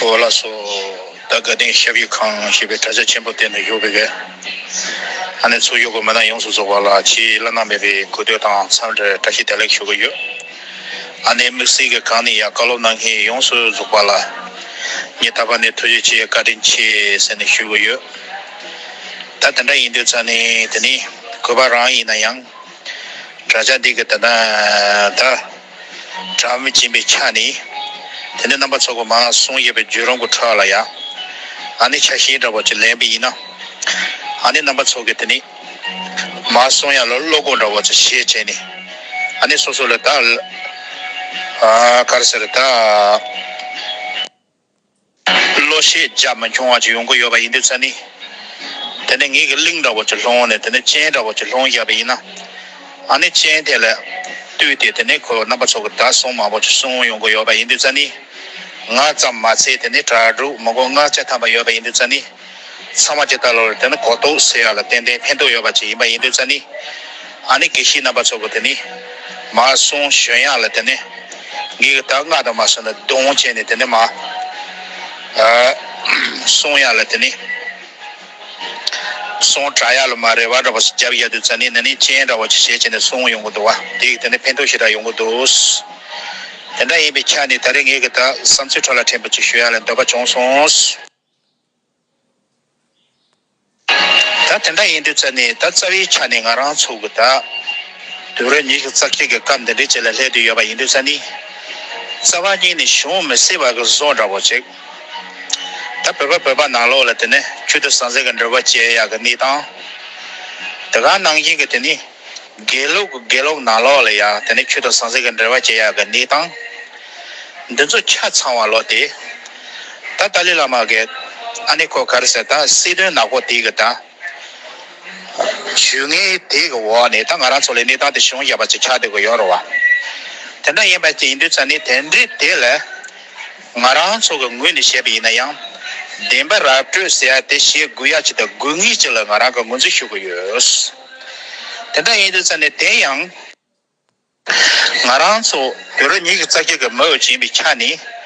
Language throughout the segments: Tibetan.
ཨོ་ལ་སོ། ད་དགའ་ལྡན་ཞབས་ཡིག་ཁང་ཞེས་པའི་དྲ་རྒྱ་ཆེན་པོ་གཏན་ནས་ཡོད་དགོས་གལ། ཨ་ནེ་ཚོ་ཡོད་དགོས་མེད་ན་ཡོངས་སུ་རྫོགས་པ་ལ་ཕྱིའི་བླ་ན་མེད་པའི་གུས་འདུད་དང་འཚམས་འདྲིར་བཀྲ་ཤིས་བདེ་ལེགས་ཞུ་གི་ཡོད། ཨ་ནེའི་དམིགས་བསལ་གྱི་གང་ནས་ཡང་བཀའ་སློབ་གནང་མཁན་ཡོངས་སུ་རྫོགས་པ་ལ། ངས་ད་བར་ནས་ཐུགས་རྗེ་ཆེ་བཀའ་དྲིན་ཆེ་ཟེར་ནས་ཞུ་གི་ཡོད། ད་དེ་འདྲ་ཡིན་དུས་ཙམ་ནས་དེ་ནི་གུས་པ་རང་ཡིན་ན་ཡང། དྲ་རྒྱ་འདི་གི་དེ་ད། སྒྲ་མི་འབྱིན་པའི་ཆ་ནི། དེ་ནས་རྣམ་པ་ཚོགས་པ་མ་གསུང་བཤད་པའི་རྒྱུད་རང་གི་འཕྲོ་བ་ལ་ཡང། ཨ་ནི་ཆ་ཤེས་འདྲ་བ་ཅིག་ལེན་པས་ཡིན་ནོ། ཨ་ནི་རྣམ་པ་ཚོགས་ཀྱི་དེ་ནི། མ་གསུང་ཡང་ལ་བློ་དགོངས་འདྲ་བ་ཅིག་ཤེས་བྱས་ནས། ཨ་ནི་སོ་སོ་ལ་དག། གར་སེར་དག། བློ་ཤེས་རྒྱ་མི་འཁྱོངས་བ་ཅིག་ཡོང་གི་ཡོད་པ་ཡིན་དུས་ཚད་ནི། དེ་ནི་ངེད་ཀྱི་གླིང་འདྲ་བོ་ཆུ་ལྷོང་ནས་དེ་ནི་སྤྱན་འདྲ་བོ་ཆུ་ལྷོང་བཞག་པས་ཡིན། ཨ་ནི་སྤྱན་དེ་ལ་ལྟོས་ཏེ་དེ་ནི་ཁོའི་རྣམ་པ་ཚོ་གི་དྲ་སྲུང་མང་བོ་ཆུ་སྲུང་ཡོང་གི་ཡོད་པ་ཡིན་དུས་ཚད་ནི། ང་ཙམ་མ་ཚད་དེ་ནི་དྲ་གྲོགས་མང་བོ་ལྔ་བརྒྱ་ཐམ་པ་ཡོད་པ་ཡིན་དུས་ཚད་ནི། ཚང་མ་ཇི་ལྟར་ལོ་རེར་དེ་ནི་གོ་རྟོགས་ཟེར་ཡག་ལ་ཏན་ཏན་ཕན་ཐོགས་ཡོད་པ་ཅིག་ཡིན་པ་ཡིན་དུས་ཙཱ་ནི་ཨ་ནི་དགེ་བཤེས་རྣམ་པ་ཚོ་གོ་དེ་ནི་མ་གསུང་གཞོན་ཡག་ལ་དེ་ནི་ངེད་ཀྱི་དག་སྔགས་དང་མ་གསུང་ན་དུང་བྱས་ནས་དེ་ནི་མ་གསུང་ཡག་ལ་དེ་ནི་གསུང་གྲགས་ཡག་ལ་མ་རེ་བ་འདྲ་བོ་ཞིག་རྒྱབ་ཡག་དུས་ཙཱ་ནི་ནི་ནི་སྤྱན་འདྲ་བོ་ཅིག་ཞལ་བྱས་ནས་གསུང་ཡོང་གི་འདུག་བ་དེ་ཡིག་དེ་ནི་ཕན་ཐོགས་ཞེ་དྲག་ཡོང་གི་འདུག་དེ་འདྲ་ཡིན་པའི་ཆ་ནས་ད་རེས་ངེད་ཀྱི་དག་བསམ་ཚུལ་ཁྲོད་ལ་ཕྲན་བུ་ཅིག་ཞུ་ཡག་ལ་འདོད་པ་བྱུང་སོང། ད་དེ་འདྲ་ཡིན་དུས་ཚོད་ནི་ད་རྩ་བའི་ཆ་ནས་ང་རང་ཚོ་གི་ད་དུས་རོ་ཉིས་རྩ་གཅིག་གི་སྐབས་འདི་འདྲའི་རྗེས་ལ་སླེབས་དུས་ཡོད་པ་ཡིན་དུས་ཚོད་ནི། རྩ་བ་གཉིས་ནི་བྱུང་མི་སྲིད་པ་གི་བཟོ་འདྲ་བོ་ཅིག། ད་བོད་པ་བོད་པ་ནང་ལོགས་ལ་དེ་ནི་ཆུ་དུ་ཟང་ཟིང་གི་འབྲེལ་བ་བཅད་ཡག་གི་གནས་སྟངས་དེ་ག་ནང་བཞིན་གི་དེ་ནི། དགེ་ལུགས་ཀྱི་དགེ་ལོག་ནང་ལོག་ལ་ཡང་དེ་ནས་ཁྱོད་དང་ཟང་ཟིང་གི་འབྲེལ་བ་ཇི་ཡག་གི་འདི་དང་འདི་ཚོ་ཆ་ཚང་བ་ལོ་དེ་ད་ཏཱ་ལི་བླ་མ་གི་ཨ་ནེ་ཁོ་ག་རེ་ཟེར་ད་སྲིད་དོན་ནག་པོ་དེ་གི་ད་ཇུས་ངན་དེ་གི་འོག་ནས་ད་ང་རང་ཚོ་ལ་གནས་སྟངས་དེ་བྱུང་བཞག་པ་ཅིག་ཆགས་དེ་གི་ཡོད་རོ་བ་དེ་འདྲ་ཡིན་པ་ཅིག་ཡིན་དུས་ཚ་ནི་དེ་འདྲའི་དེ་ལ་ང་རང་ཚོ་གི་ངོས་ནས་བཤད་པ་ཡིན་ན་ཡང་བདེན་པ་ར་སྤྲོད་ཟེར་ཡ་དེ་བྱེད་དགོས་ཡ་ཅིག་དང་དགོས་ངེས་ཅིག་ལ་ང་རང་གི་ངོས་འཛིན་ཞུ་གི་ཡོད། དེ་འདྲ་ཡིན་དུས་ཚད་ནི་བདེན་ཡང། ང་རང་ཚོ་བོད་རང་ཉིད་ཀྱི་རྩ་རྒྱུད་ཀྱི་མི་འོས་སྦྱིན་པའི་ཆ་ནས།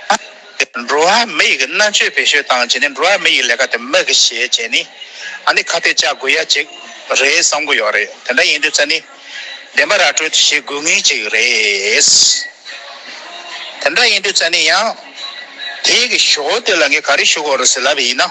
འགྲོ་བ་མི་ཡི་གི་མནར་གཅོད་བེད་སྤྱོད་བཏང་རྗེས་ནས་འགྲོ་བ་མི་ཡི་ལས་ཀ་དེ་མི་གིས་བྱས་རྗེས་ནས་ཨ་ནི་ཁ་གཏད་བཅག་དགོས་ཡ་ཅིག་རེད་བསམ་གི་ཡོད་རེད་དེ་འདྲ་ཡིན་དུས་ཚད་ནི་བདེན་པ་ར་སྤྲོད་དེ་བྱེད་དགོས་ངེས་ཅིག་རེད། དེ་འདྲ་ཡིན་དུས་ཚད་ནི་ཡང་དེའི་གི་ཞོ་དེ་ལ་ངས་ག་རེ་ཞུ་དགོས་རེད་ཟེར་ལབ་ཡིན་ན།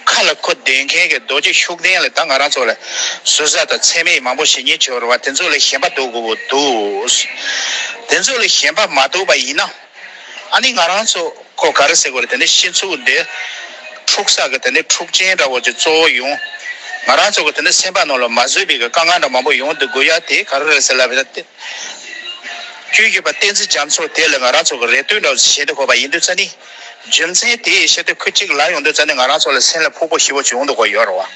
མཁའ་ལ་འཁོར་འདས་མཁན་གྱི་རྡོ་རྗེ་ཤུགས་ལྡན་ལ་ད་ང་རང་ཚོ་ལ་ཟུར་ཟ་དང་ཚད་མེད་མང་པོ་ཞིག་ཉེ་ཆོས་རུ་བ་དེ་ཚོ་ལས་གཞན་པ་འདུག་གོ་བོ་འདུག། དེ་ཚོ་ལས་གཞན་པ་མ་འདུག་པ་ཡིན་ན། ཨ་ནི་ང་རང་ཚོ་ཁོ་ག་རེ་ཟེར་དགོས་རེད་དེ་ནས་ཤིན་ཚུགས་འདི། འཁྲུག་ས་གི་དེ་ནས་འཁྲུག་ཆེན་འདྲ་བོ་ཅིག་གཙོ་བོ་ཡོང། ང་རང་ཚོ་གི་དེ་ནས་སེམས་པ་ནང་ལ་མ་བཟོད་པའི་གི་དཀའ་ངལ་འདྲ་མང་པོ་ཡོང་འདུག་གོ་ཡ་དེ་ག་རེ་རེད་ཟེར་ལབ་ཡོད་ན་དེ། བཅོས་བརྒྱུད་པ་བསྟན་འཛིན་རྒྱ་མཚོ་དེ་ལ་ང་རང་ཚོ་གི་རེ་ལྟོས་འདྲ་བོ་ཞིག་བྱེད་འདུག་གོ་བ་ཡིན་དུས་ཙཱ་ནི། རྒྱུ་མཚན་དེ་ཡི་ཕྱིར་ཏེ་ཁུ་གཅིག་ལ་ཡོང་དུས་རྩ་ནི་ང་རང་ཚོ་ལ་སེམས་ལ་ཕུག་པོ་ཞི་བོ་ཅིག་འོང་འདུག་གོ་ཡོད་རེད་བ།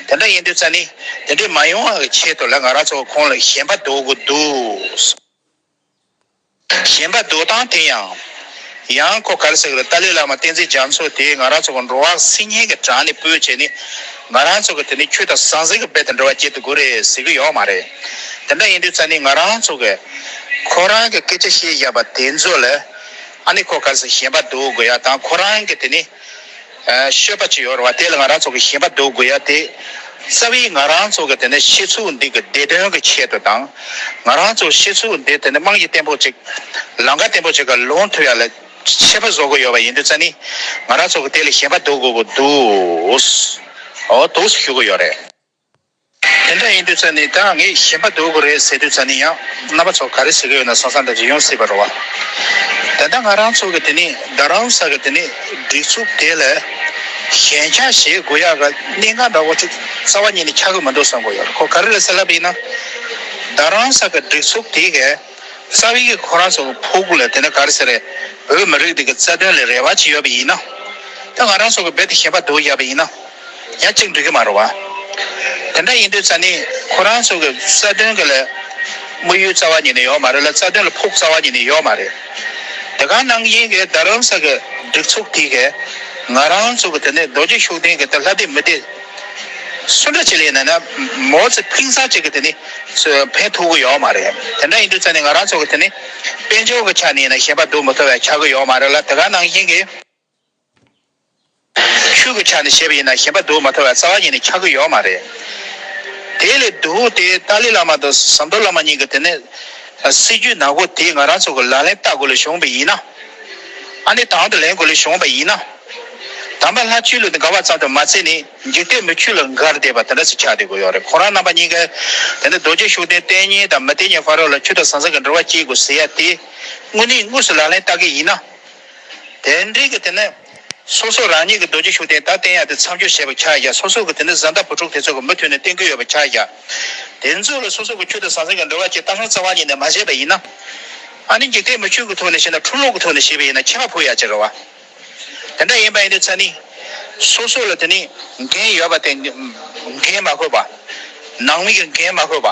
དེ་འདྲ་ཡིན་དུས་རྩ་ནི་དེ་འདྲའི་མ་ཡོང་བ་གི་ཆེད་དུ་ལ་ང་རང་ཚོ་གི་ཁོང་ལ་ཞེན་པ་འདུག་གི་འདུག། ཞེན་པ་འདུག་སྟངས་དེ་ཡང། ཡང་ཁོ་གར་ཟེར་གི་རེད་ཏཱ་ལའི་བླ་མ་བསྟན་འཛིན་རྒྱ་མཚོ་དེས་ང་རང་ཚོ་གི་འགྲོ་བ་སིལ་སྙན་གི་བྲང་ནས་སྤོས་བྱས་ནས་ང་རང་ཚོ་གི་དེ་ནི་ཁྱོད་དང་ཟང་ཟིང་གི་རྦད་དེ་འབྲེལ་བ་བསྐྱེད་དུ་དགོས་རེད་ཟེར་གི་ཡོད་མ་རེད། དེ་འདྲ་ཡིན་དུས་རྩ་ནི་ང་རང་ཚོ་གི་ཁོ་རང་གི་སྐད་ཆ་བཤད་བཞག་པ་དེ་ཚོ་ལ་ཨ་ནི་ཁོ་གར་སོང་ཞེས་པ་འདུག་གོ་ཡ་དང་ཁོ་རང་གི་དེ་ནི་ཤོད་པ་ཅི་ཡོད་རེད་བ་དེ་ལ་ང་རང་ཚོ་གི་ཞེས་པ་འདུག་གོ་ཡ་དེ་རྩ་བའི་ང་རང་ཚོ་གི་དེ་ནི་ཤེས་ཚུལ་འདི་གི་བདེ་དོན་གི་ཆེད་དུ་དང་ང་རང་ཚོ་ཤེས་ཚུལ་འདི་དེ་ནི་དམངས་ཀྱི་བརྟན་པོ་ཅིག་ལང་ཀ་བརྟན་པོ་ཅིག་གི་ལུང་ཐུག་ཡ་ལ་ཆེས་པ་བཟོ་གི་ཡོད་པ་ཡིན་དུས་རྩ་ནི་ང་རང་ཚོ་གི་དེ་ལ་ཞེས་པ་འདུག་གོ་གོ་འདུག་འོ་དུགས་སུ་ཞུགས་གི་ཡོད་རེད། དེ་འདྲ་ཡིན་དུས་ཚོད་ནི་དེའང་ངས་ཞེན་པ་འདུག་གི་རེད་ཟེར་དུས་ཚོད་ནི་ཡང་རྣམ་པ་ཚོ་ག་རེ་ཟེར་གི་ཡོད་ན་སང་སང་འདྲ་རེ་ཡོང་སྲིད་པ་རེད་བ། ད་ལྟ་ང་རང་ཚོ་གི་དེ་ནི་རྡ་རམ་ས་གི་དེ་ནི་སྒྲིག་འཛུགས་དེ་ལས་གཞན་ཆ་བྱེད་དགོས་ཡག་གི་གནད་འགག་འདྲ་བོ་ཅིག་རྩ་བ་ཉིད་ནས་ཆགས་གི་མི་འདུག་བསམ་གི་ཡོད་ཁོ་ག་རེ་རེད་ཟེར་ལབ་པ་ཡིན་ན། རྡ་རམ་ས་གི་སྒྲིག་འཛུགས་དེ་གས་རྩ་བའི་གི་ཁོ་རང་ཚོ་གི་ཕོ་རྒོད་ལ་དེ་འདྲ་ག་རེ་ཟེར་རེད་བོད་མི་རིགས་འདི་གི་རྩ་དོན་ལ་རེ་བ་ཅིག་ཡོད་པ་ཡིན་ན། ད་ང་རང་ཚོ་གི་རྦད་དེ་ཞེན་པ་འདུག་ཡག་པ་ཡིན་ན། ཡང་གཅིག་འགྲིག་གི་མ་རུང་བ། དེ་འདྲ་ཡིན་དུས་ཙཱ་ནི་ཁོ་རང་ཚོ་གི་རྩ་དོན་གི་ལས། དམིགས་ཡུལ་རྩ་བ་ཉིད་ནས་ཡོད་མ་རེད་ལ་རྩ་དོན་ལ་ཕུགས་རྩ་བ་ཉིད་ནས་ཡོད་མ་རེད། དེ་གང་གནང་གི་ཡིན་གི་རྡ་རམ་ས་གི་སྒྲིག་ཚོགས་དེ་གས་ང་རང་ཚོ་གི་དེ་ནས་རྡོ་རྗེ་ཤུགས་ལྡན་གི་དེ་ལྷ་དེ་མི་དེ། སུ་འདྲ་བྱེད་ལེ་ན་ན་མོ་ཚེ་ཕིང་ས་ཅིག་གི་དེ་ནི་ཕན་ཐོག་གི་ཡོད་མ་རེད་དེ་འདྲ་ཡིན་དུས་ཙཱ་ནི་ང་རང་ཚོ་གི་དེ་ནི་དཔལ་འབྱོར་གི་ཆ་ནས་ཡིན་ན་ཞེན་པ་སྡུག་མི་ཐོབ་བའི་ཆག་གི་ཡོད་མ་རེད་ལ་དེ་གང་གནང་གི་ཡིན་གི། ཆོས་ཀྱི་ཆ་ནས་བཤད་པ་ཡིན་ན་ཞེན་པ་དུག་མ་ཐོན་བར་རྩ་བ་ཉིད་ནས་འཆག་གི་ཡོད་མ་རེད། དེ་ལས་དུག་དེ་ཏཱ་ལའི་བླ་མ་དང་ཟམ་གདོང་བླ་མ་གཉིས་ཀྱི་དེ་ནས་སྲིད་བྱུས་ནག་པོ་དེ་ང་རང་ཚོ་གི་ལག་ལེན་བསྟར་དགོས་ལུགས་བྱུང་བ་ཡིན་ན། ཨ་ནི་དང་དུ་ལེན་དགོས་ལུགས་བྱུང་བ་ཡིན་ན། དམ་པ་ལྷ་ཆོས་ལུགས་དེ་འགལ་བ་ཙམ་དུ་མ་བརྩི་ནས་འཇིག་རྟེན་མི་ཆོས་ལ་འགལ་བསྡད་པ་དེ་འདྲ་ཚོ་ཆགས་བསྡད་དགོས་ཡོད་རེད་ཁོ་རང་རྣམ་པ་གཉིས་ཀ་དེ་ནས་རྡོ་རྗེ་ཤུགས་ལྡན་བསྟན་གཉིས་དང་མི་བསྟན་གཉིས་བར་རོ་ལ་ཆུ་དང་ཟང་ཟིང་གི་འབྲེལ་བ་བསྐྱེད་དགོས་ཟེར་ཡ་དེ་དངོས་གནས་དངོས་སུ་ལག་ལེན་བསྟར་གི་ཡིན་ན། དེ་འདྲའི་གི་དེ་ནི། སོ་སོ་རང་ཉིད་ཀྱི་རྡོ་རྗེ་ཤུགས་ལྡན་དག་བསྟན་ཡག་དེ་མཚམས་སྦྱོར་བྱེད་པར་ཆགས་བཞག་སོ་སོ་གི་དེ་ནི་བཟའ་ཟླ་བུ་ཕྲུག་དེ་ཚོ་གི་མུ་མཐུད་ནས་བསྟེན་གྱི་ཡོད་པར་ཆགས་བཞག་དེ་ཚོ་ལ་སོ་སོ་གི་ཁྱོད་དང་ཟང་ཟིང་གི་འབྲེལ་བ་བཅས་རྟ་ཧང་རྩ་བ་ཉིད་ནས་མ་བྱས་པ་ཡིན་ན། ཨ་ནི་འཇིག་རྟེན་མི་ཆོས་ཀྱི་ཐོག་ནས་བྱས་ན་འཁྲུག་ལོག་གི་ཐོག་ནས་བྱས་པ་ཡིན་ན་ཁྱད་པར་ཕུགས་ཡག་ཅེས་རེ་བ། དེ་འདྲ་ཡིན་པ་ཡིན་དུས་ཚད་ནི། སོ་སོ་ལ་དེ་ནི་འགན་ཡོད་པ་དེ་འགན་མ་ཁོས་པ། ནང་མི་གི་འགན་མ་ཁོས་པ།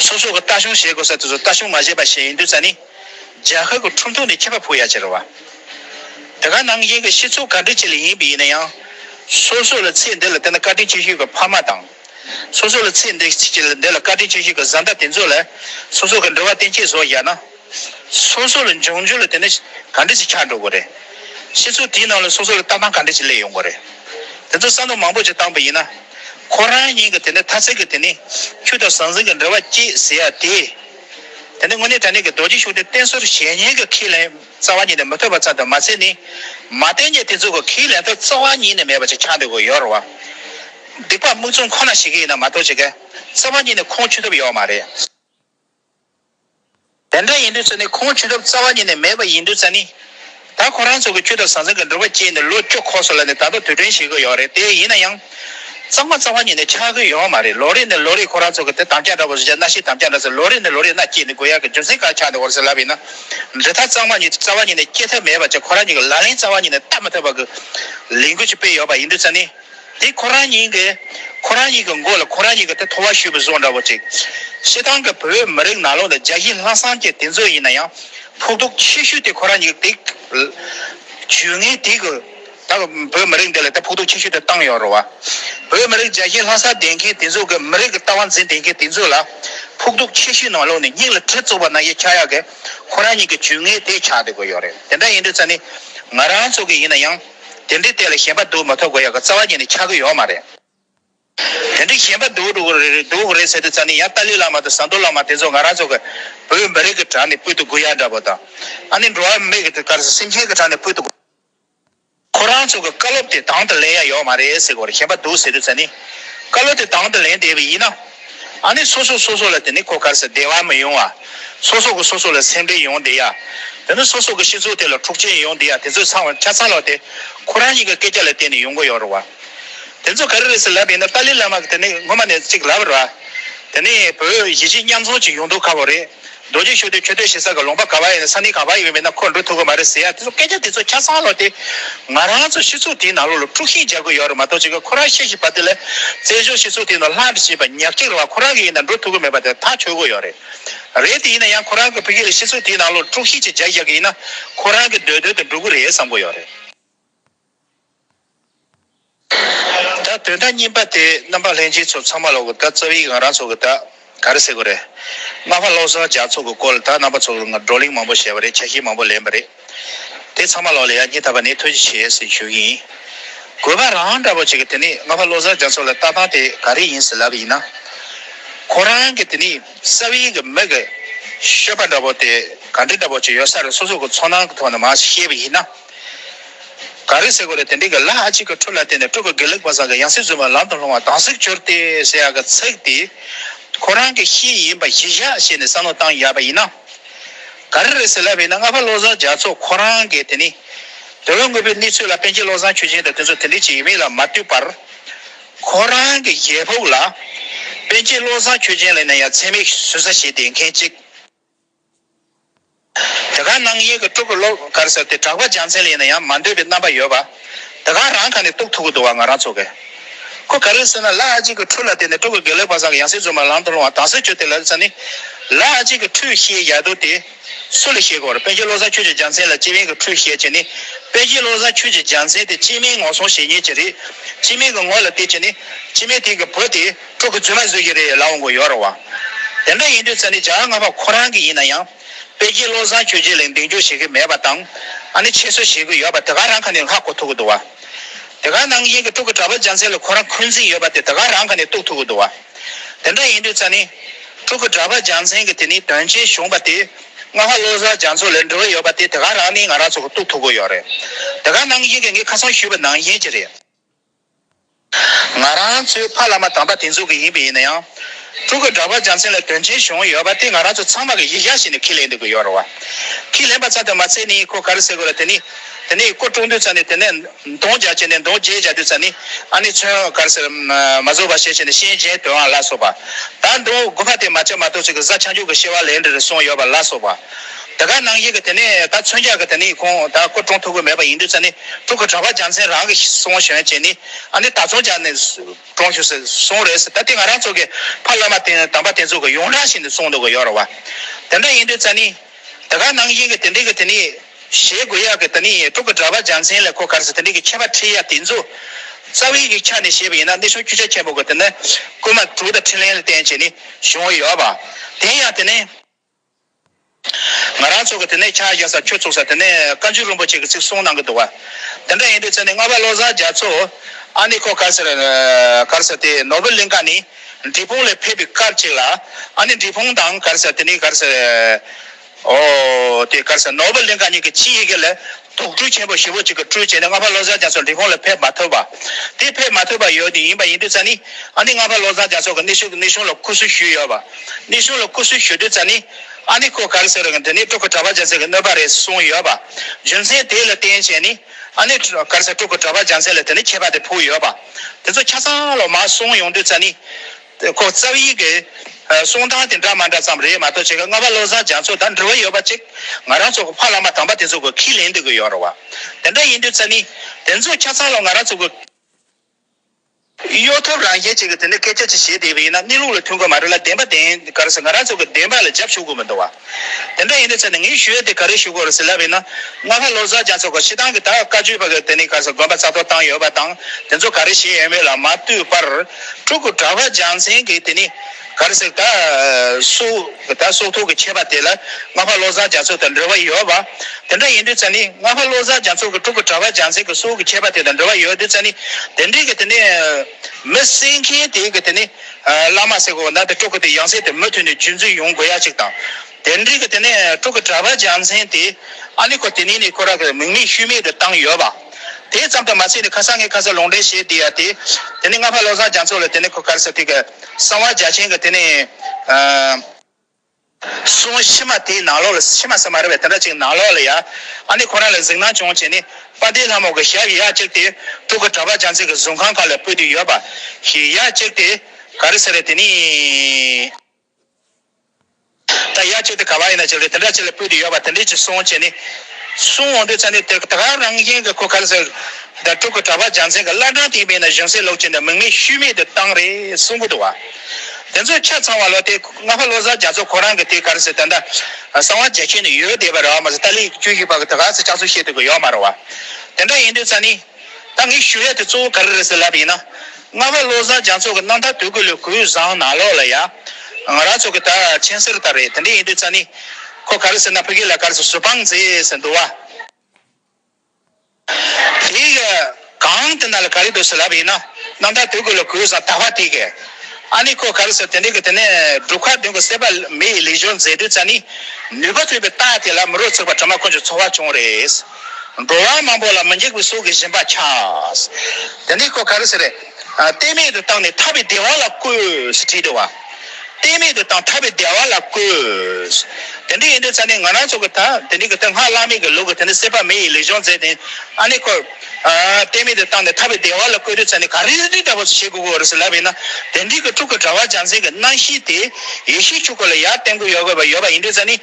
སོ་སོ་གི་ལྟ་ཞུང་བྱེད་དགོས་ས་དེ་ཚོ་ལྟ་ཞུང་མ་བྱས་པ་ཞིག་ཡིན་དུས་ཙཱ་ནི། རྒྱ་གར་གི་ཁྲུང་ཐུང་ནས་ཁྱད་པར་ཕུག་ཡག་ཅེས་རེད་བ། དེ་ག་ནང་བཞིན་གྱི་སྤྱི་ཚོགས་ག་འདྲི་བྱེད་ལས་ཡིན་པས་ཡིན་ན་ཡང། སོ་སོ་ལ་ཚེ་འདི་ལ་བལྟས་ན་བཀའ་དྲིན་ཅི་ཞུས་ཀྱི་ཕ་མ་དང། སོ་སོ་ལ་ཚེ་འདི་ལ་བཀའ་དྲིན་ཅི་ཞུས་ཀྱི་བཟའ་ཟླ་དེ་ཚོ་ལ་སོ་སོ་གི་འདྲི་བ་བསྟན་ཆེད་བཟོ་བཞག་ན། སོ་སོ་ལ་འབྱུང་འགྱུར་ལ་དེ་འདྲ་ག་འདྲ་ཞིག་ཆགས་འགྲོ་དགོས་རེད། ཕྱི་ཚུལ་དེའི་ནང་ལ་སོ་སོ་ལ་ལྟ་སྟངས་ག་འདྲ་ཞིག་སླེབས་ཡོང་དགོས་རེད། དེ་ཚོ་བསམ་བློ་མང་པོ་ཞིག་བཏང་པ་ཡིན་ན། ཁོ་རང་ཉིད་ཀྱི་དེ་འདྲ་ཐ་ཚིག་གི་དེ་ནི་ཆུ་དང་ཟང་ཟིང་གི་འབྲེལ་བ་སྐྱེས་ཟེར་ཡ་དེ། དེ་འདྲ་དངོས་གནས་དྲ་གནས་ཀྱི་རྡོ་རྗེ་ཤུགས་ལྡན་བསྟེན་ཟུར་གཞན་ཉིད་ཀྱི་ཁས་ལེན་རྩ་བ་ཉིད་ནས་མི་ཐོབ་པ་ཙམ་དུ་མ་ཚད་ནི། མ་བསྟེན་རྗེས་དེ་ཚོ་གི་ཁས་ལེན་ཐབས་རྩ་བ་ཉིད་ནས་མེད་པ་ཞིག་ཆགས་འགྲོ་དགོས་ཡོད་རེད་བ། སྡིག་པ་རྨུགས་རྩོམ་ཁོ་ན་ཞིག་གི་ཡིན་ན་མ་གཏོགས་ཅི་དགའ། རྩ་བ་ཉིད་ནས་ཁོང་ཆུད་ཐབས་ཡོད་མ་རེད། དེ་འདྲ་ཡིན་དུས་ཚོད་ནི་ཁོང་བྱུས་སྐབས་རྩ་བ་ཉིད་ནས་མེད་པ་ཡིན་དུས་ཚོད་ནི། ད་ཁོ་རང་ཚོ་གི་ཁྱུ་དང་ཟང་ཟིང་གི་འབྲོག་པ་བཅས་ནི་ལོ་བཅུ་འཁོར་སོང་ལ་ནི་ད་ལྟ་དུས་དྲན་བྱེད་དགོས་ཡོད་རེད་དེ་ཡིན་ན་ཡང། གཙང་མ་རྩ་བ་ཉིད་ནས་ཆགས་ཀྱི་ཡོད་མ་རེད་ལོ་རེ་ནས་ལོ་རེ་ཁོ་རང་ཚོ་གི་དེ་དམ་བཅའ་འདྲ་བོ་ཟེར་བྱ་སྣ་ཤིང་དམ་བཅའ་འདྲ་ཟེར་ལོ་རེ་ནས་ལོ་རེ་སྣ་སྐྱེས་ནས་དགོས་ཡག་གི་རྒྱུ་མཚན་གང་ཆགས་ནས་འོར་ཟེར་ལབ་ཡིན་ན། འབྲི་ཐབས་གཙང་མ་ཉིད་རྩ་བ་ཉིད་ནས་སྐྱེ་ཐབས་མེད་པ་བཅས་ཁོ་རང་ཉིད་ཀྱི་ལག་ལེན་རྩ་བ་ཉིད་ནས་བསྟར་མ་ཐུབ་པ་གི་ལས་འགུལ་ཅིག་སྤེལ་ཡོད་པ་ཡིན་དུས་ཚོད་ནི། དེ་ཁོ་རང་ཉིད་ཀྱིས་ཁོ་རང་ཉིད་ཀྱི་མགོ་ལ་ཁོ་རང་ཉིད་ཀྱི་དེ་ཐོ་བ་ཞུས་པ་བཟོ་འདྲ་བོ་ཅིག། ཤེས་ཐང་གི་བོད་མི་རིགས་ནག་ལོ་ལ་རྒྱ་གཞི་ལྷག་བསམ་གྱི་དེ་ཚོ་ཡིན་ན་ཡང་ཕོག་ཐུག་ཆེ་ཤོས་དེ་ཁོ་རང་ཉིད་ཀྱི་དེ། ཇུས་ངན་དེ་གི་ད་གི་བོད་མི་རིགས་འདི་ལ་དེ་ཕོག་ཐུག་ཆེ་ཤོས་དེ་བཏང་ཡོད་རུང་བ། བོད་མི་རིགས་རྒྱ་གཞི་ལྷག་བསམ་ལྡན་མཁན་དེ་ཚོ་གི་མི་རིགས་ཀྱི་ལྟ་བ་འཛིན་བདེ་མཁན་དེ་ཚོ་ལ་ཕོག་ཐུག་ཆེ་ཤོས་ནང་ལོགས་ནས་སྙིང་ལ་གྲི་བཙུགས་པ་ན་ཡིས་ཁྱ་ཡག་གི་ཁོ་རང་ཉིད་ཀྱི་ཇུས་ངན་དེ་ཆགས་བསྡད་དགོས་ཡོད་རེད་དེ་འདྲ་ཡིན་དུས་ཚོད་ནི་ང་རང་ཚོ་གི་ཡིན་ན་ཡང། དེ་འདྲའི་ལྟས་ལ་ཞེན་པ་འདུག་མ་ཐོབ་གོ་ཡག་གི་རྩ་བ་ཉིད་ནས་ཆགས་ཀྱི་ཡོད་མ་རེད། དེ་འདྲའི་ཞེན་པ་འདུག་འདུག་གི་རེད་ཟེར་དུས་ཙང་ནི་ཡང་ཏཱ་ལའི་བླ་མ་དང་ཟམ་གདོང་བླ་མ་དེ་ཚོ་ང་རང་ཚོ་གི་བོད་མི་རིགས་ཀྱི་བྲག་ནས་སྤུད་དུ་སྒུག་ཡག་འདྲ་པོ་དང། ཨ་ནི་འགྲོ་བ་མི་གི་གར་སེམས་ཅན་གི་བྲག་ནས་སྤུད་དུ་སྒུག། ཁོ་རང་ཚོ་གི་བཀའ་སློབ་དེ་དང་དུ་ལེན་ཡག་ཡོད་མ་རེད་ཟེར་གོ་རེ་ཞེན་པ་འདུག་ཟེར་དུས་ཙང་ནི། བཀའ་སློབ་དེ་དང་དུ་ལེན་བསྡད་པས་ཡིན་ན། ཨ་ནི་སོ་སོ་སོ་སོ་ལ་དེ་ནི་གོ་དཀར་ཟེར་བདེ་བ་མི་ཡོང་བ། སོ་སོ་གི་སོ་སོ་ལ་སེམས་པས་ཡོང་བདེ་ཡ། དེ་ནི་སོ་སོ་གི་ཤི་ཚུལ་དེ་ལ་འཁྲུག་ཆེན་ཡོང་བདེ་ཡ་དེ་ཚོས་ཚང་བ་ཆ་ཚང་ལོག་སྟེ། ཁོ་རང་ཉིད་ཀྱི་སྐད་ཆ་ལ་བརྟེན་ནས་ཡོང་གི་ཡོད་རེད་བ། དེ་ཚོ་ག་རེ་རེད་ཟེར་ལབ་ཡིན་ན་ཏཱ་ལི་བླ་མ་གི་དེ་ནི་སྔོན་མ་ནས་ཅིག་ལབ་རེད་བ། དེ་ནི་བོད་གཞིས་བྱེས་མཉམ་འཛོམས་ཀྱི་ཡོང་འདོད་ཁ་བོ་རེད། རྡོ་རྗེ་ཤོད་དུས་ཁྱོད་སྡོད་བཞིན་ས་ག་ལུང་པ་ག་བ་ཡིན་ན་ས་གནས་གང་བ་ཡིན་མིན་ན་ཁོ་འགྲོ་ཐུབ་གི་མ་རེད་ཟེར་ཡ་དེ་ཚོ་སྐད་ཆ་དེ་ཚོ་ཆ་ཚང་ལོག་སྟེ། ང་རང་ཚོ་ཤི་ཚུགས་དེའི་ནང་ལོག་ལ་དཀྲུག་ཤིང་རྒྱག་གི་ཡོད་རེད་མ་གཏོགས་ཅི་ག་ཁོ་རང་ཤི་བཞིན་པ་དེ་ལས། བཙན་བྱོལ་ཤི་ཚུགས་དེའི་ནང་ལྷ་འདྲེ་ཞེས་པ་ཉག་གཅིག་རེ་བ་ཁོ་རང་གི་ཡིན་ན་འགྲོ་ཐུབ་གི་མེད་པ་དེ་ཐག་ཆོད་གི་ཡོད་རེད། རེད་དེ་ཡིན་ན་ཡང་ཁོ་རང་གི་བུ་སྐྱེས་ལ་ཤི་ཚུགས་དེའི་ནང་ལོག་ལ་དཀྲུག་ཤིང་ཅིག་རྒྱག་བཞག་གི་ཡིན་ན་ཁོ་རང་གི་འདོད་འདོད་དུ་འགྲོ་གི་རེད་བསམ་གི་ཡོད་རེད། ད་དོན་དག་རྙིང་པ་དེ་རྣམ་པ་ལྷན་སྐྱེས་ཚོ་ཚང་མ་ལོག་གི་ད་རྩ་བའི་ང་རང་ཚོ་གི་ད་ག་རེ་ཟེར་གི་རེད། སྔ་མ་བློ་བཟང་ལྗགས་ཚོགས་ཀྱི་སྐོར་ལ་ད་རྣམ་པ་ཚོ་ང་བགྲོ་གླེང་མང་པོ་བྱས་པ་རེད་ཆ་ཤས་མང་པོ་ལེན་པ་རེད། དེ་ཚང་མ་ལོག་ལ་ཡ་སྙིང་ཐག་པ་ནས་ཐོན་ཅི་བྱེད་ཟེར་ཞུ་གི་ཡིན། དགོས་པ་རང་འདྲ་པོ་ཅིག་གི་དེ་ནི་སྔ་མ་བློ་བཟང་ལྗགས་ཚོགས་ལ་ལྟ་སྟངས་དེ་ག་རེ་ཡིན་ཟེར་ལབ་ཡིན་ན། ཁོ་རང་གི་དེ་ནི་རྩ་བའི་གི་མི་གི་ཤོད་པ་འདྲ་པོ་དེ་ག་འདྲ་འདྲ་པོ་ཅིག་ཡོད་ས་རེད་སོ་སོ་གི་ཚོགས་ནང་གི་ཐོག་ནས་མ་ཤེས་པ་ཡིན་ན། ག་རེ་ཟེར་དགོས་རེད་དེ་འདྲའི་གི་ལ་ཨ་ཅིག་གི་འཕྲུལ་ལ་བརྟེན་ནས་སྤྲུལ་པ་དགེ་ལེགས་པ་ཟག་གི་ཡང་སྲིད་བཟོད་པ་ལམ་དུ་ལྷུང་བ་དང་གཟིགས་སྦྱོར་སྟེ་ཟེར་ཡག་གི་ཚིག་དེ་ཁོ་རང་གི་ཤེས་ཡིན་པ་གཞི་བཞག་བྱས་ནས་བསམ་བློ་བཏང་ཡག་པ་ཡིན་ན། ག་རེ་རེད་ཟེར་ལབ་ཡིན་ན་རྔ་པ་བློ་བཟང་རྒྱ་མཚོ་ཁོ་རང་གིས་དེ་ནི་དེ་ལོ་དངོས་པོའི་གནས་ཚུལ་ལ་བསྟན་རྗེས་བློ་བཟང་ཆོས་རྗེན་དང་དེ་ཚོ་དེ་འདྲའི་བྱེད་ཡུལ་མིན་ལ་མ་ལྟོས་པར། ཁོ་རང་གི་རྒྱལ་ཕུགས་ལ་བསྟན་རྗེས་བློ་བཟང་ཆོས་རྗེན་ལ་ཡིན་ན་ཡང་འཚེ་མེད་ཟུར་ཟ་བྱེད་བསྡད་མཁན་གཅིག། འདི་ག་ནང་གཡས་ཀྱི་སྤྲུལ་སྐུ་ལོག་དཀར་ཟེར་ཏེ་གྲགས་པ་རྒྱ་མཚན་ལས་ཡིན་ན་ཡང་མ་འདོད་པའི་རྣམ་པ་ཡོད་པ། འདི་ག་རང་ཁ་ནས་གཏུགས་ཐུག་གི་འདུག་བ་ང་རང་ཚོ་གི། ཁོ་ག་རེ་ཟེར་ན་ལ་ཨ་ཅིག་གི་ཁྲུས་ལ་བརྟེན་ནས་སྤྲུལ་སྐུ་དགེ་ལེགས་པ་ཚང་གི་ཡང་སྲིད་རྫུན་མ་ལམ་དུ་སློང་བ་དྭངས་གསལ་བྱོས་ཏེ་ལབ་ཙེ་ནི། ལ་ཨ་ཅིག་གི་ཁྲུས་བཤད་ཡག་འདུག་དེ། སུ་ལ་བཤད་དགོས་ར་པན་ཆེན་བློ་བཟང་ཁྱོད་ཀྱི་རྒྱ་མཚན་ལ་སྤྱི་སྨན་གྱི་ཁྲུས་བཤད་ཅེས་ནི། པན་ཆེན་བློ་བཟང་ཁྱོད་ཀྱི་རྒྱ་མཚན་དེ་སྤྱི་སྨན་ངོ་སྲུང་བྱེད་ཉེས་ཀྱི་རེད། སྤྱི་སྨན་གྱི་ངོ་ལ་བལྟས་ཀྱིས་ནི། སྤྱི་སྨན་དེ་གི་བུ་དེ། ཕྲུ་གུ་རྫུན་མ་བཟོས་ཀྱི་རེད་ལབ་འོང་གི་ཡོད་རེད་བ། དེ་འདྲ་ཡིན་དུས་ཙཱ་ནི་ཇག་ང་པ་ཁོ་རང་གི་ཡིན་ན་ཡང། དཔེ་རྒྱལ་བློ་བཟང་ཁྱོད་རྗེས་ལེགས་འདེང་རྒྱུ་བྱེད་ཀྱི་མེད་པ་དང། ཨ་ནི་ཆེད་བཟོ་བྱེད་ཀྱི་ཡོད་པ་དེ་ག་རང་ག་ནས་ལྷག་གོ་ཐུག་གི་འདུག་བ། དེ་ག་ནང་བཞིན་གྱི་ཕྲུ་གུ་གྲྭ་པ་ལྗང་ཚེ་ལ་ཁོ་རང་འཁོན་འཛིན་ཡོད་པ་དེ་དེ་ག་རང་ག་ནས་གཏུག་ཐུག་གི་འདུག་བ། དེ་འདྲ་ཡིན་དུས་ཙཱ་ནི། ཕྲུ་གུ་གྲྭ་པ་ལྗང་ཚེ་གི་དེ་ནི་དོན་ཆེན་བྱུང་བ་དེ། ང་ཧ་བློ་བཟང་ལྗང་ཚོ་ལས་འབྲེལ་བ་ཡོད་པ་དེ་དེ་ག་རང་ནས་ང་རང་ཚོ་གི་གཏུག་ཐུག་གི་ཡོད་རེད། དེ་ག་ནང་བཞིན་གྱི་ངས་ཁ་སང་ཞུས་པ་ནང་བཞིན་གྱི་རེད། ང་རང་ཚོའི་ཕ་བླ་མ་དམ་པ་དེ་ཚོ་གི་ཡིན་པས་ཡིན་ན་ཡང། ཕྲུ་གུ་འདྲ་པར་རྒྱ་མཚན་ལ་དོན་ཆེན་བྱུང་ཡོད་པ་དེ་ང་རང་ཚོ་ཚང་མ་གི་ཡིད་གཞག་བྱས་ནས་ཁས་ལེན་འདོད་ཀི་ཡོད་རེད་བ། ཁས་ལེན་པ་ཚ་དེ་མ་ཚད་ནི་ཁོ་ག་རེ་ཟེར་དགོས་ར་དེ་ནི། དེ་ནས་ཁོ་སྤྲོ་འདོད་ཚ་ནི་དེ་ནས་འདོང་རྒྱག་བྱས་ནས་འདོང་བརྗེད་བྱ་འདོད་ཚ་ནི། ཨ་ནི་མཚོན་ག་རེ་ཟེར་མ་བཟོ་བ་ཞེས་བྱས་ནས་ཤིང་གཞན་དོན་བ་ལ་སོགས་པ། ད་འདོང་དགོས་པ་དེ་མ་བྱས་མ་ཐོག་ཚིག་གི་གཟའ་ཆག་འཇུག་གི་ཤེས་བ་ལས་འདིར་སོང་ཡོད་པ་ལ་སོགས་པ། དེ་ག་ནང་བཞིན་གྱི་དེ་ནས་ད་མཚོན་ཆ་གི་དེ་ནི་ཁོང་ད་སྐུ་གྲོངས་ཐུབ་གི་མེད་པ་ཡིན་དུས་ས་ནི་དྲུག་གི་གྲྭ་པ་རྒྱ་མཚན་རང་གི་གསུང་ཞོན་བྱས་ནི་ཨ་ནི་ད་མཚོན་ཆ་ནི་གྲོངས་ཞུ་ཟེར་གསུང་རེད་ཟེར་ད་དེ་ང་རང་ཚོ་གི་ཕ་བླ་མ་དེ་དམ་པ་དེ་ཚོ་གི་ཡོངས་གྲགས་བཞིན་དུ་གསུང་འདུག་གི་ཡོད་རེད་བ། དེ་འདྲ་ཡིན་དུས་ས་ནི་དེ་ག་ནང་བཞིན་གྱི་དེ་འདྲི་གི་དེ་ནི་ཞེས་དགོས་ཡག་གི་དེ་ནི་དྲུག་གི་གྲྭ་པ་རྒྱ་མཚན་ལས་ཁོ་གར་ཟེར་དེ་འདྲི་གི་མཁས་པ་ཁྲི་ཡ་དེ་ཚོ་རྩ་བའི་གི་ཆ་ནས་བཤད་པ་ཡིན་ན་གནས་གཞུང་བཅུ་ཆ་ཆེན་པོ་གི་དེ་ནི་སྐུལ་མ་དྲུག་དང་ཕྲིན་ལན་ལ་བརྟེན་བྱས་ནི་བྱུང་གི་ཡོད་བ། དེ་ཡང་དེ་ནི། ང་རང་ཚོགས་ཀྱི་དེ་ནས་ཕྱག་བཞག་ས་ཁྱོད་ཚུགས་ས་དེ་ནས་བཀའ་འགྱུར་རིན་པོ་ཆེ་གི་ཚིག་གསུངས་གནང་གི་འདུག་བ། དེ་འདྲ་ཡིན་དུས་ཚེ་ནི་རྔ་བ་བློ་བཟང་རྒྱ་མཚོ། ཨ་ནི་ཁོ་གར་ཟེར། གར་ཟེར་དེ་ནོར་བུ་གླིང་ག་ནི་འབྲི་ཕུང་ལས་ཕེབས་པའི་སྐབས་ཅིག་ལ། ཨ་ནི་འབྲི་ཕུང་དང་གར་ཟེར་དེ་ནི་གར་ཟེར། ཨོ། དེ་གར་ཟེར་ནོར་བུ་གླིང་ག་གཉིས་ཀྱི་ཕྱི་ཡི་གེ་ལས། དོགས་འཕྲུལ་ཆེན་པོ་ཞེ་བོ་གཅིག་གི་འཕྲུལ་བྱས་ནས་རྔ་པ་བློ་བཟང་རྒྱ་མཚོ་འབྲི་ཁུང་ལ་ཕེབས་མ་ཐུབ་པ། དེ་ཕེབས་མ་ཐུབ་པ་ཡོད་དུས་ཡིན་པ་ཡིན་དུས་ཙཱ་ནི་ཨ་ནི་རྔ་པ་བློ་བཟང་རྒྱ་མཚོ་གི་གནས་ཤུལ་གྱི་གནས་གཞུང་ལ་ཁུ་སུ་ཞུས་ཡོད་པ། གནས་གཞུང་ལ་ཁུ་སུ་ཞུས་དུས་ཙཱ་ནི་ཨ་ནི་ཁོ་ག་རེ་ཟེར་རོ་ཀྱང་འདི་ནི་ཀྲུག་གི་གྲྭ་པ་རྒྱ་མཚན་གྱི་གནོད་པ་རེད་གསུངས་ཡོད་པ། རྒྱུ་མཚན་དེ་ལ་བརྟེན་བྱས་ནས་ཨ་ནི་ག་རེ་ཟེར་ཀྲུག་གི་གྲྭ་པ་རྒྱ་མཚན་ལ་དེ་ནི་ཁྱད་པར་དེ་ཕུག་ཡོད་པ། དེ་ཚོ་ཆ་ཚང་ལོ་མ་གསུངས་ཡོང་དུས་ཙཱ་ནི། ཁོ་རྩ་བའི་གི་གསུང་སྟངས་དེ་འདྲ་མ་འདྲ་ཙམ་རེད་མ་གཏོགས་བྱེད་ཀ་ལྔ་པ་བློ་བཟང་རྒྱ་མཚོ་དང་འབྲེལ་བ་ཡོད་པ་གཅིག་ང་རང་ཚོ་གི་ཕ་བླ་མ་དམ་པ་དེ་ཚོ་གི་ཁས་ལེན་འདོད་གི་ཡོད་རེད་བ། དེ་འདྲ་ཡིན་དུས་རྩ་མི་དེ་ཚོ་ཁྱ་ཚང་ལ་ང་རང་ཚོ་གི། གཡོ་ཐབས་རང་བཞིན་ཅིག་གི་དེ་འདྲ་སྐད་ཆ་ཅིག་བྱེད་བསྡད་པ་ཡིན་ན་གནས་ལུགས་ལ་མཐུན་གི་མ་རེད་ལ་བདེན་པ་བདེན་གར་སེ་ང་རང་ཚོ་གི་བདེན་པ་ལ་རྒྱབ་ཞུགས་དགོས་མི་འདུག་བ། དེ་འདྲ་ཡིན་ན་ཚེ་ནི་ངའི་ཞུ་ཡིག་དེ་ག་རེ་ཞུ་དགོས་རེད་ཟེར་ལབ་ཡིན་ན། རྔ་ཁ་བློ་བཟང་རྒྱ་མཚོ་ཁོ་ཕྱི་ཐང་གི་ད་བཀའ་བརྒྱུད་པ་གི་དེ་ནས་ག་ས་དགོན་པ་རྩ་གཏོར་བཏང་ཡོད་པ་དང་དེ་ཚོ་ག་རེ་བྱེད་ཡོད་མེད་ལ་མ་ལྟོས་པར། ཕྲུ་གུ་གྲྭ་བ་རྒྱ་མཚན་གི་དེ་ནས་ག་རེ་ཟེར་ད་སོའི་ད་སོ་ཐོག་གི་མཆེད་པ་དེ་ལ་རྔ་ཁ་བློ་བཟང་རྒྱ་མཚོ་དང་འབྲེལ་བ་ཡོད་པ། དེ་འདྲ་ཡིན་དུས་ཚེ་ནི་རྔ་ཁ་བློ་བཟང་རྒྱ་མཚོ་གི་ཕྲུ་གུ་གྲྭ་བ་རྒྱ་མཚན་གི་སོའི་གི་མཆེད་པ་དེ་དང་འབྲེལ་བ་ཡོད་དུས་ཚེ་ནི་དེ་འདྲའི་གི་དེ་ནས། མི་བསད་མཁན་དེའི་གི་དེ་ནས། བླ་མ་སེ་གོ་ན་དེ་ཀྲོ་ཀི་དེ་ཡང་སེ་དེ་མུ་མཐུད་ནས་རྒྱུད་འཛིན་ཡོང་དགོས་ཡ་གཅིག་དང། དེ་འབྲིང་གི་དེ་ནས་ཀྲོ་ཀི་གྲྭ་པ་འཇམ་སེང་དེ་ཨ་ལི་ཁོ་དེ་ནས་ནས་ཁོ་ར་གི་མིང་མེད་ཤུལ་མེད་དེ་བཏང་ཡོད་བ། དེ་ཙམ་དུ་མ་ཚད་ནས་ཁ་སང་ངས་ཁ་སང་ལུང་འདྲེན་བྱས་དེ་ཡ་དེ། དེ་ནས་ང་ཕ་བློ་བཟང་རྒྱ་མཚོ་ལ་དེ་ནས་ཁོ་གར་སེ་དེ་གི་གསང་བ་རྒྱ་ཆེན་གི་དེ་ནས། གསུང་ཕྱི་མ་དེའི་ནང་ལོགས་ལ་ཕྱི་མ་ཟེར་མ་རེད་བས་དེ་འདྲ་ཅིག་ནང་ལོགས་ལ་ཡ། ཨ་ནི་ཁོ་རང་ལ་གཟིགས་སྣང་བྱུང་བྱས་ནས་དཔའ་སྡེའི་ལྷ་མོ་གི་ཞབས་གཡས་བཅིག་སྟེ་དྲུག་གི་གྲྭ་པ་བྱང་ཚིག་གི་གཟུགས་ཁང་ཁ་ལ་སྤུད་དེ་ཡོད་པ་ཞིག་གཡས་བཅིག་སྟེ་ག་རེ་ཟེར་རེད་དེ་ནི། ད་གཡས་བཅིག་སྟེ་ག་བ་ཡིན་ན་ཅིག་རེད་དེ་འདྲ་ཅིག་ལ་སྤུད་དེ་ཡོད་པ་དེ་འདྲས་ཅིག་གསུང་བྱས་ནས་གསུང་འོང་དུས་ཚར་ནས་དེར་ད་ག་རང་བཞིན་གྱི་ཁོ་ག་རེ་ཟེར་ད་དྲུག་གི་གྲྭ་པ་བྱང་ཚིག་གི་བླ་བྲང་དེའི་མིང་ན་གཞུང་སྲིད་ལོག་ཅིག་ནས་མིང་མེད་ཤུལ་མེད་དུ་བཏང་རེད་གསུང་གི་འདུག་བ། དེ་ཚོས་ཆ་ཚང་བ་ལོ་དེ་སྔ་ཕ་བློ་བཟང་རྒྱ་མཚོ་ཁོ་རང་གི་དེ་གར་སེ་ད་ད་གསང་བ་མཇལ་ཁྱེད་ནས་ཡོད་བསྡད་པ་རེད་བ་མ་ཟད་ཏཱ་ལའི་ཀྱུ་ཞིག་པ་གི་ད་ག་ཚོད་ལྕགས་ཚོད་བཤད་དུ་གི་ཡོད་མ་རེད་བ། དེ་འདྲ་ཡིན་དུས་ཙཱ་ནི། ད་ངས་ཞུ་ཡ་དེ་གཙོ་བོ་ག་རེ་རེད་ཟེར་ལབ་ཡིན་ན། སྔ་ཕ་བློ་བཟང་རྒྱ་མཚོ་གི་གནང་ཐ་དོད་གི་ལོའི་གུས་བཟང་ནང་ལོགས་ལ་ཡ། ང་རང་ཚོ་གི་ད་མཆན་སེར་ལྟར་རེད་དེ་འདྲ་ཡིན་དུས་ཙཱ་ནི། ཁོ་ག་རེ་ཟེར་ན་ཕི་གི་ལ་གར་སེ་ཟུར་དཔང་མཛད་ཟེར་འདུག་བ། དེའི་ཡ། གང་དེ་ན་ལ་ག་རེ་འདོད་སེ་ལབ་ཡིན་ན། རྣམ་ཐར་དོད་དགོས་ལ་གོས་བཟང་ལྟ་བ་དེ་གས། ཨ་ནི་ཁོ་ག་རེ་ཟེར་དེ་འདྲས་གི་དེ་ནས་སྒྲུབ་ཁག་བདུན་གི་གསད་པ་མི་ཡི་ལས་སྦྱོར་མཛད་དུས་ཙཱ་ནི། ནུས་པ་ཐོས་པའི་རྟགས་དེ་ལ་མི་རོ་ཚུགས་པ་གྲིབ་མ་ཁོ་ཅི་འཚོ་བ་བྱུང་རེས། འགྲོ་བ་མང་པོ་ལ་མི་འཇིགས་པའི་སྲོག་གི་བཞིན་པ་ཆགས། དེ་འདྲས་ཁོ་ག་རེ་ཟེར། གཏད་མེད་དུ་བཏང་ནས་ཐར་པའི་བདེ་བ་ལ་བཀོད། ཞེས་བྲིས་འདུག་བ། གཏད་མེད་དུ་དང་ཐར་པའི་བདེ་བ་ལ་བཀོད། དེ་འདྲ་ཡིན་དུས་ཚང་ནས་ང་རང་ཚོ་གི་ད་དེ་འདྲའི་གི་ད་སྔགས་བླ་མེད་ཀྱི་ལུགས་གི་དེ་འདྲ་སྲེད་པ་མེ་ཡི་ལུས་སྦྱོང་མཛད་དེ་ཨ་ནེ་འཁོར། གཏད་མེད་དུ་བཏང་ནས་ཐར་པའི་བདེ་བ་ལ་བཀོད་དུས་ཚང་ནས་ག་རེ་འདི་འདྲ་བོ་བྱེད་དགོས་གོ་རེ་ཟེར་ལབ་པས་ན་དེ་འདྲའི་གི་ཕྲུག་གི་གྲྭ་བ་རྒྱ་མཚན་གྱི་སྣང་བཞི་དེ་ཡེ་ཤེས་ཆོས་སྐུ་ལ་ཡར་བསྟེན་དགོས་ཡོད་དགོས་པ་ཡོད་པ་ཡིན་དུས་ཚང་ནས།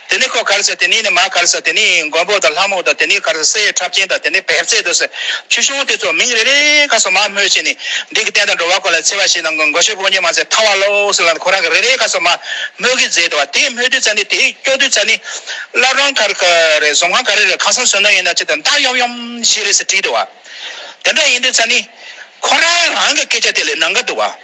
དེ་ནས་ཁོ་གར་ཟེར་དེ་ནས་ནི་མ་གར་ཟེར་དེ་ནས་མགོན་པོ་དང་ལྷ་མོ་དང་དེ་ནས་གར་ཟེར་སའི་ཁྲབ་ཆེན་དང་དེ་ནས་བེར་རྩེ་དུ་ཟེར། ཆུ་གཞོང་དེ་ཚོ་མིང་རེ་རེ་ག་སོགས་མ་སྨོས་ཅི་ནས། འདི་གི་རྟེན་དང་འགྲོ་བ་ཁོ་ལ་འཚེ་བ་ཞིག་ནང་མགོན་ཤོད་པོ་ཉི་མ་ཟེར་ཐང་བ་ལོ་ཟེར་ལ་ཁོ་རང་གི་རེ་རེ་ག་སོགས་མ་སྨོས་ཀི་མཛད་དོ། དེ་སྨོས་དུས་ཚ་ནི་དེ་སྐྱོ་དུས་ཚ་ནི། སླར་རང་གར་ག་རེ་ཟོང་ཁང་ག་རེ་རེ་ཁང་སང་སོན་ནོ་ཡིན་ན་ཅི་དང་སྟག་ཡོམ་ཡོམ་ཞིག་རེད་ཟེར་དྲིས་དུ་བ། དེ་འདྲ་ཡིན་དུས་ཚ་ནི། ཁོ་རང་རང་གི་སྐད་ཆ་དེ་ལས་ནང་ག་དུ་བ།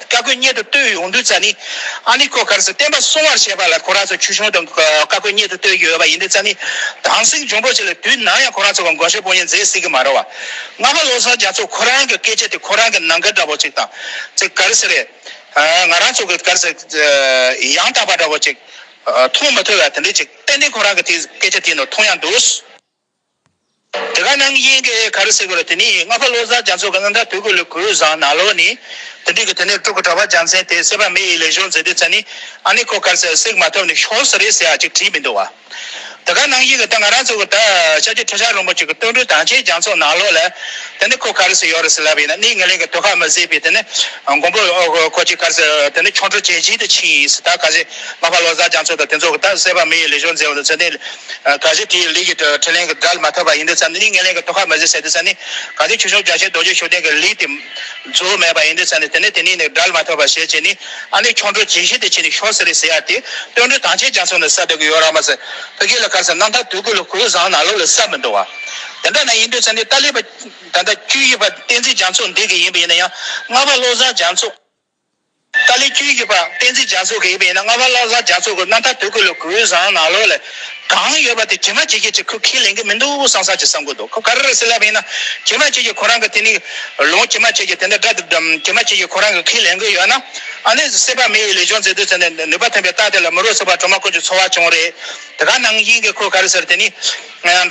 བཀའ་བཀོད་སྙེད་དུ་བསྟོད་ཡོང་དུས་རྩ་ནི། ཨ་ནི་ཀོ་གར་སི་བསྟན་པ་བསྲུང་བར་བྱེད་པ་ལ་ཁོ་རང་ཚོ་ཁྱུ་ཆུང་དུ་བཀའ་བཀོད་སྙེད་དུ་བསྟོད་ཀྱི་ཡོད་པ་ཡིན་དུས་རྩ་ནི། དྭངས་བསིང་འབྱུང་པོ་ཞིག་ལ་དུས་ནམ་ཡང་ཁོ་རང་ཚོ་དགོངས་བཞེད་སྤོ་ཉན་མཛད་སྲིད་ཀྱི་མ་རེད་བ། སྔ་མ་བློ་བཟང་རྒྱ་མཚོས་ཁོ་རང་གི་སྐད་ཆ་དེ་ཁོ་རང་གི་ནང་འགལ་འདྲ་བོ་ཅིག་དང། ཚིག་གར་སི་རེད། ང་རང་ཚོ་གི་གར་སི། ཡང་དག་པ་འདྲ་བོ་ཅིག། མཐོང་མི་ཐོས་བ་དེ་འདྲས་ཅིག་ཏན་ཏན་ཁོ་རང་གི་དེ་སྐད་ཆ་དེའི་ནང་མཐོང་ཡང་འདུག། དེ་ག་ནང་གི་དབྱིངས་ཀྱི་གར་སེལ་བར་དེ་ནས་ལྔ་པ་བློ་བཟང་རྒྱ་མཚོ་གི་སྔགས་མཐར་ཐུག་གི་ལུས་གོས་བཟང་ནག་ལོ་ནི། དེ་འདྲིས་ཀྱི་དེ་ནས་སྤྲུལ་སྐུ་གྲགས་པ་རྒྱལ་མཚན་དེས་གསད་པ་མེ་ཡི་ལས་གཞུང་མཛད་དེ་ཚེ་ནི་ཨ་ནི་ཁོ་གར་སེལ་སྲེག་མ་ཐོབ་ནས་ཤོག་ཟེར་རེ་ཟེར་ཡང་ཅིག་བྲིས་མི་འདུག་བ། དེ་ག་ནང་དབྱིངས་ཀྱི་ད་ང་རང་ཚོ་གི་ད་ཤཱཀྱ་ཐུབ་ཤར་རིན་པོ་ཆེ་གི་སྟོད་འགྲོའི་དྭངས་ཆེན་རྒྱ་མཚོ་ནག་ལོ་ལ། དེ་ནི་ཁོ་གར་སེལ་ཡོད་རེ་ཟེར་ལབ་ཡིན་ན་ནི་ངེད་གླིང་གི་དུད་ཁ་མི་བཟད་པའི་དེ་ནི་མགོན་པོ་ཁོ་ཅིག་གར་སེལ་དེ་ནི་ཁྱུང་ཁྲོ་བྱེད་བཞིན་དུ་ཕྱིན་ཡིན་སྲིད་ད་ག་ཟེ་ལྔ་པ་བློ་བཟང་རྒྱ་མཚོ་དང་དེ་ཚོ་གི་ད་གསད་པ་མེ་ཡི་ལས་གཞུང་མཛད་བ་དང་ཚེ་ནི། ག་གཟིགས་དེའི་ལུས་ཀྱི་ཐོད་ལེན་གྱི་སྒྲ་ལ་མ་ཐོས་པ་ཡིན་དུས་ཙམ་ནས་ནི་ངན་ལེན་གྱི་དོ་ཁ་མི་བཟོད་ཟེར་དུས་ཙམ་ནས་ག་གཟིགས་ཆོས་སྐྱོང་རྒྱ་ཆེན་རྡོ་རྗེ་ཤུགས་ལྡན་གྱི་ལུས་དེ་གཙོ་བོ་མེད་པ་ཡིན་དུས་ཙམ་ནས་དེ་ནས་དེ་ནས་ནི་སྒྲ་ལ་མ་ཐོས་པར་ཞེས་བྱས་ནས་ཨ་ནི་ཁྱོད་འགྲོ་ཇི་བཞིན་དུ་བྱས་ནས་ཤོག་ཟེར་རེ་ཟེར་ཡ་དེ་སྟོན་འགྲོའི་དང་ཆེས་ཀྱང་སོང་ནས་ས་དེ་གི་ཡོ་ར་མ་ཟེར་ཕུ་གེ་ལ་ཁར་སོང་རྣམ་ཐར་དུས་ཀུན་ལ་ཁོ་བོའི་བཟང་ནག་ལོ་ལ་ས་མི་འདུག་བ། དེ་འདྲ་ན་ཡིན་དུས་ཙམ་ནས་ཏཱ་ལའི་པ། ད་ལྟ་བཅུ་ཡི་པ་བསྟན་འཛིན་རྒྱ་མཚོ་འདི་གི་ཡིན་པ་ཡིན་ན་ཡང་ལྔ་པ་བློ་བཟང་རྒྱ་མཚོ། ཏཱ་ལའི་ཁྱོད་ཀྱིས་པ་སྤེན་ཚེ་རྒྱ་མཚོ་གི་ཡིན་པ་ཡིན་ན་རྔ་བ་ལ་ལྷ་རྒྱ་མཚོ་གི་སྣ་ཐ་དོད་གི་ལོ་གུས་བཟང་ནག་ལོ་ལས་གང་ཡོད་པ་དེ་དྲི་མ་ཇི་སྐད་ཅིག་ཁུ་ཁས་ལེན་གི་མི་འདུག་བསམ་བསམ་གྱིས་བསམ་གོ་འདུག་ཁོ་ག་རེ་རེ་ཟེར་ལབ་པ་ཡིན་ན་དྲི་མ་ཅིག་གིས་ཁོ་རང་གི་དེ་ནི་ལོང་དྲི་མ་ཅིག་གིས་དེ་འདྲ་དྲི་མ་ཅིག་གིས་ཁོ་རང་གི་ཁས་ལེན་གི་ཡོད་ན་ཨ་ནི་སྲིད་པ་མི་ཡི་ལས་སྦྱོང་མཛད་དུས་ཚེ་ནས་ནུས་པ་ཐོན་པའི་རྟགས་དེ་ལ་མི་རོ་ཚིག་པ་གྲོ་མ་ཀུན་གྱི་འཚོ་བ་བྱུང་རེད་དེ་ག་ནང་བཞིན་གྱི་ཁོ་ག་རེ་ཟེར་དེ་ནི་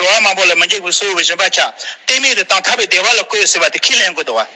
འགྲོ་བ་མང་པོ་ལ་མི་འཇིགས་པའི་སྲོལ་བཞིན་པ་ཆ་གཏན་མེད་དུ་བཏང་ཐར་པའི་བདེ་བ་ལ་བཀོད་ཟེར་བ་དེ་ཁས་ལེན་གི་འདུག་བ།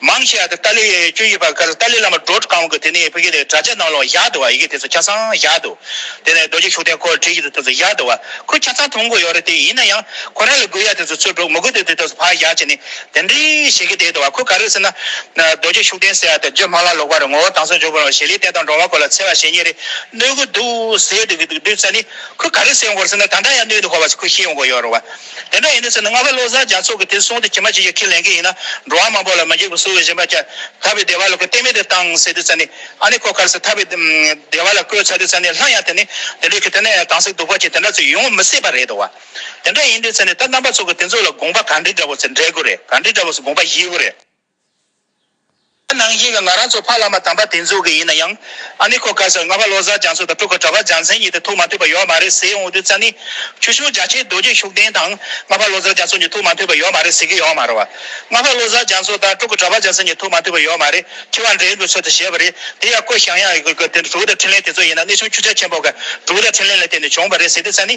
མང་ཆེ་བ་དེ་ཏཱ་ལའི་ཡའི་སྐྱོན་ཡིན་པ་ག་ཚོད་ཏཱ་ལའི་བླ་མ་འགྲོ་གང་གི་དེ་ནས་བོད་སྐད་དེ་གྲྭ་ཆས་ནང་ལོག་བཞག་འདུག་བ་ཡི་གེ་དེ་ཚོ་ཆ་ཚང་བཞག་འདུག་དེ་ནས་རྡོ་རྗེ་ཤུགས་ལྡན་ཁོ་བྲིས་ཡིག་དེ་ཚོ་བཞག་འདུག་བ་ཁོས་ཆ་ཚང་མཐོང་གི་ཡོད་རེད་དེ་ཡིན་ན་ཡང་ཁོ་རང་ལ་དགོས་ཡ་དེ་ཚོ་ཚུར་འགྲོ་མི་དགོས་དེ་དེ་ཚོ་ཕར་བཞག་བྱས་ནས་དེ་འདྲས་བྱེད་ཀྱི་བསྡད་འདུག་བ་ཁོས་ག་རེ་ཟེར་ན། རྡོ་རྗེ་ཤུགས་ལྡན་ཟེར་བ་དེ་བརྗོད་སྨྲ་བླ་ལོག་པ་རེད་ངོ་བོ་དྭངས་གསལ་འཇོག་དགོས་རུང་ཞེ་ལེ་བསྟན་དང་འགྲོ་བ་སྐོར་ལ་འཚེ་བ་བྱེད་ཉེས་རེ་གནོད་ཀྱི་འདུག་ཟེར་འདུག་གི་འདུག་བསམ་ནས་ཁོས་ག་རེ་ཟེར་ཡོང་གི་རེད་ཟེར་ན་ད་འདྲ་ཡང་གནོད་འདུག་ཧོ་བ་ཁོས་ཤེས་ཡོང་གི་ཡོད་རུང་བ། དེ་འདྲ་ཡིན་ནི་ཟེར་ན་སྔ་ཁ་བློ་བཟང་རྒྱ་མཚོ་གིས་དེ་སོང་སྟེ་ཁྱི་མ་ཁྱི་ཞིག་ཁས་ལེན་མཁན་ཡིན་ན་འགྲོ་བ་མང་པོ་ལ་མི་འགྱིག་པ་བསུ་བའི་བཞིན་པ་ཁྱད་ད་པའི་སྡེ་བ་ལ་ཁོས་གཏན་མེད་དུ་བཏང་ཟེར་དུས་ཚར་ནི་ཨ་ནི་ཁོ་ཁར་ཟེར་ད་པའི་སྡེ་བ་ལ་བསྐོས་ཚར་དུས་ཚར་ནི་ལྷ་ཡང་དེ་ནི་དེ་འདྲའི་ཁྱི་དེ་ནས་གང་ཟིག་སྡུག་པ་ཅིག་དེ་འདྲ་ཚོས་ཡོང་མི་སྲིད་པ་རེད་དོ། དེ་འདྲ་ཡིན་དུས་ཚར་ནི་ད་རྣམ་པ་ཚོ་གིས་དེ་ཚོ་ལ་དགོངས་པ་ག་འདྲི་འདྲ་པོ་ཟེར་འདྲེ་དགོས་རེད་ག་འདྲི་འདྲ་པོ་ཟེར་དགོངས་པ་བཞེས་དགོས་རེད། ད་ནང་བཞིན་ང་རང་ཚོ་ཕ་བླ་མ་དམ་པ་དེ་ཚོ་གི་ཡིན་ན་ཡང། ཨ་ནི་ཁོ་ག་ཟེར་རྔ་པ་བློ་བཟང་རྒྱ་མཚོ་དང་ཕྲུ་གུ་གྲྭ་པ་འཇམ་མཚན་གཉིས་དེ་ཐུག་མ་ཐུབ་པ་ཡོད་མ་རེད་ཟེར་འོང་དུས་ཙཱ་ནི། ཆུ་ཤུར་རྒྱ་ཆེའི་རྡོ་རྗེ་ཤུགས་ལྡན་དང་རྔ་པ་བློ་བཟང་རྒྱ་མཚོ་གཉིས་ཐུག་མ་ཐུབ་པ་ཡོད་མ་རེད་ཟེར་གྱི་ཡོད་མ་རེད། རྔ་པ་བློ་བཟང་རྒྱ་མཚོ་དང་ཕྲུ་གུ་གྲྭ་པ་འཇམ་མཚན་གཉིས་ཐུག་མ་ཐུབ་པ་ཡོད་མ་རེད་ཁྱི་བ་འདྲེ་འདུག་ཚུལ་དུ་བྱས་པ་རེད་དེ་ཡང་ཀོ་ཞང་ཡང་ཡང་ཀྱི་ཀྱི་དེ་ཕྲུ་གུ་དང་འཕྲིན་ལན་དེ་ཚོ་ཡིན་ན་གནས་ཆུང་ཁྱུ་ཆ་ཆེན་པོ་ག་ཕྲུ་གུ་དང་འཕྲིན་ལན་ལ་བརྟེན་ནས་བྱུང་བ་རེད་ཟེར་དུས་ཙཱ་ནི།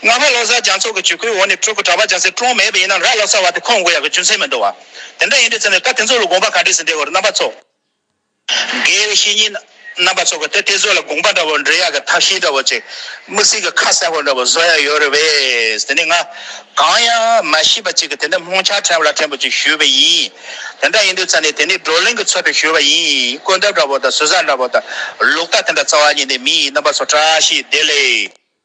རྔ་བ་ལོ་སར་རྒྱང་ཚོགས་ཀྱི་བྱེད་སྒོའི་འོག་ནས་ཕྲུ་གུ་གྲྭ་པ་རྒྱང་སྲིང་བཀྲོངས་མེད་པ་ཡིན་ནམ་ར་ལོ་སར་བ་དེ་ཁོང་དགོས་ཡག་གི་རྒྱུ་མཚན་མི་འདུག་བ། དེ་འདྲ་ཡིན་དུས་ཚོད་ནས་ད་དེ་ཚོ་ལ་དགོངས་པ་ག་འདྲས་ཟིན་འདྲའི་བར་རྣམ་པ་ཚོ། དགེ་བའི་བཤེས་གཉེན་རྣམ་པ་ཚོ་གི་དེ་དེ་ཚོ་ལ་དགོངས་པ་འདྲ་བོ་འདྲེ་ཡག་གི་ཐབས་ཤེས་འདྲ་བོ་ཅིག་མིག་ཟིག་གི་ཁ་གསལ་བོ་འདྲ་བོ་བཟོ་ཡག་ཡོད་རེད་བས་དེ་ནས་ང་གང་ཡང་མ་ཤེས་པ་ཅིག་གི་དེ་འདྲ་སྨོང་ཆ་ཕྲན་བུ་ལ་ཕྲན་བུ་ཅིག་ཞུས་པ་ཡིན། དེ་འདྲ་ཡིན་དུས་ཚོད་ནས་དེ་ནས་བགྲོ་གླེང་གི་ཚོད་དུ་ཞུས་པ་ཡིན་བཀོད་འདབ་འདྲ་བོ་དང་ཟུར་ཟ་འདྲ་བོ་དང་ལུག་རྟ་དེ་འདྲ་རྩ་བ་ཉིད་ནས་མི་ཡི་རྣམ་པ་ཚོ་བཀྲ་ཤིས་བདེ་ལེགས།